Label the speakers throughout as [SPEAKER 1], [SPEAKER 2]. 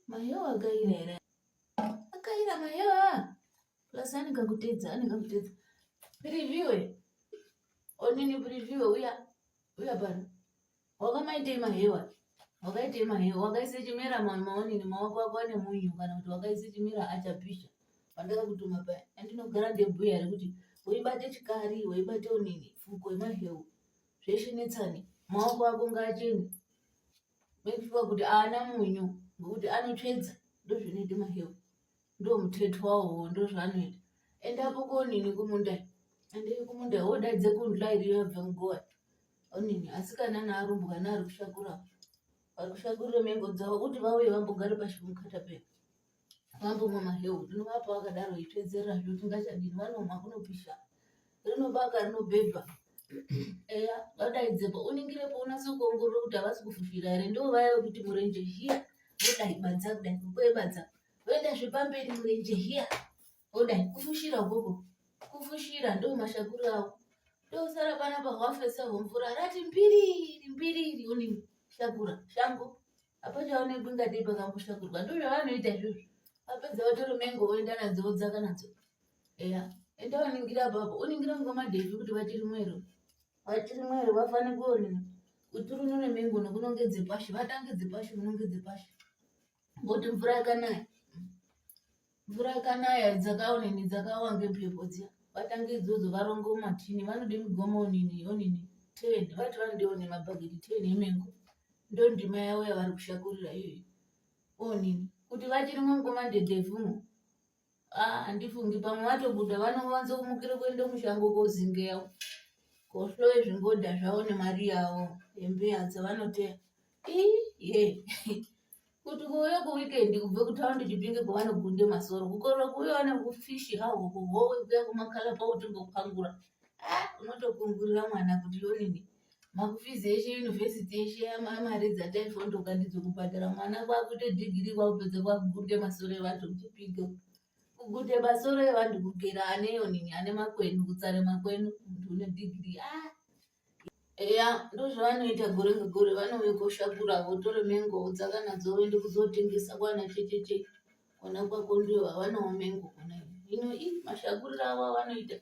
[SPEAKER 1] Mayo akaira here? Akaira mayo plus ane kakutedza ane kakutedza preview onini preview uya uya pano wakamaitei mahewa wakaitei mahewa wakaisa chimera maonini maoko ako ane munyu kana kuti wakaisa chimera achapisha pandakakutuma paya andinogara ndebhuya rekuti weibate chikari weibate onini fuko yemahewu zveshe netsani maoko ako ngaachene make sure kuti aana munyu ngokuti anotsvedza ndozvinoita mahewu ndo muthethi wawo ndozvaanoita and apo konini kumunda and kumunda wodaidze kundla iriyo yabva mugowa onini asikana naarumbwana ari kushakura ari kushakurira mengo dzavo kuti vauye vambogare pashi pemukatapepa vambomwa maheu ndinovapa vakadaro ipedzerera zvo tingachadini vanomwa kunopisha rinobaka rinobhebha eya vadaidzepo uningirepo unase kuongorora kuti havasi kufushira here ndo vaya vekuti murenje hiya vodai badza kudai kukwebadza voenda zvepamberi murenje hiya vodai kufushira ukoko kufushira ndo mashakuru awo ndosara panapa hwafesa hwemvura rati mbiriri mbiriri uningi shakura shango apa chaonekwi ngatei pakakushakirwa ndo zvavanoita izvozvo vapedza vatore mengo voenda nadzo vodzaka nadzo eya enda waningira apapo uningira ngoma dhevi kuti vachiri mwero vachiri mwero vafane kuonini kuti runune mengo nokunongedze pashi vatange dzepashi munongedze pashi ngoti mvura yakanaya mvura ikanaya dzakaonini dzakawa ngemhepo dziya vatange idzodzo varonge umatini vanode migomo onini onini ten vati vanode one mabhageti ten emengo ndo ndima yavo yavari kushakurira iyoyo onini kuti vachiri mungoma ndedevhumo ah, handifungi ah, pamwe vatobuda vanowanza kumukira kuenda mushango kozingeya kohloye zvingoda zvavo nemari yavo hembe yadza vanoteya kuti kuuya kuwikendi kubve kutaundi chipinge kwavanogunde masoro kukorwa kuuya wana kufishi hawo kuhowe kuya kumakala pautingopangura ah, unotokungurira mwana kuti yonini makufizi eshe yunivhesiti eshe amari dzataifondoka ndidzo kubhadhara mwana kwakuite dhigiri kwakupedza kwakugunde masoro evantu kuchipinge kugunde masoro evantu kugera ane yonini ane makwenu kutsare makwenu muntu une dhigiri ah. eya ndozvavanoita gore ngegore vanouya koshakura votore mengo vodzaka nadzo voende kuzotengesa kwana checheche kona kwako ndiyo vavanawo mengo kona ino i mashakuriro avo avanoita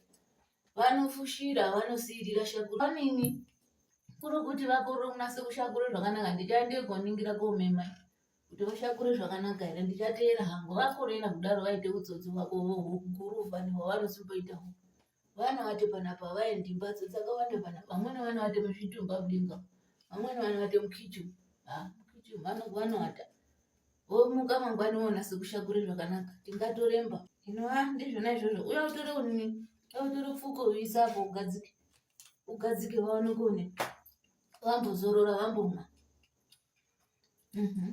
[SPEAKER 1] vanofushira vanosiirira shakura vanini kuri kuti vakore kunase kushakura zvakanaka ndichaende koningira komema kuti vashakure zvakanaka here ndichateera hangu vakorera kudaro vaite utsotsi hwako hukuru vani hwavanosimboita hwo vana vati panapa vaendi mbatso dzakawanda pana vamweni vana vati muzvitumba mudinga vamweni vana vati mukichu mukichu vanowata womuka mangwani wona sekushakure zvakanaka tingatoremba inova ndizvona izvozvo uya utore unini utore pfuko uisa apo ugadzike ugadzike vaone kuone vambozorora vambomwa mm -hmm.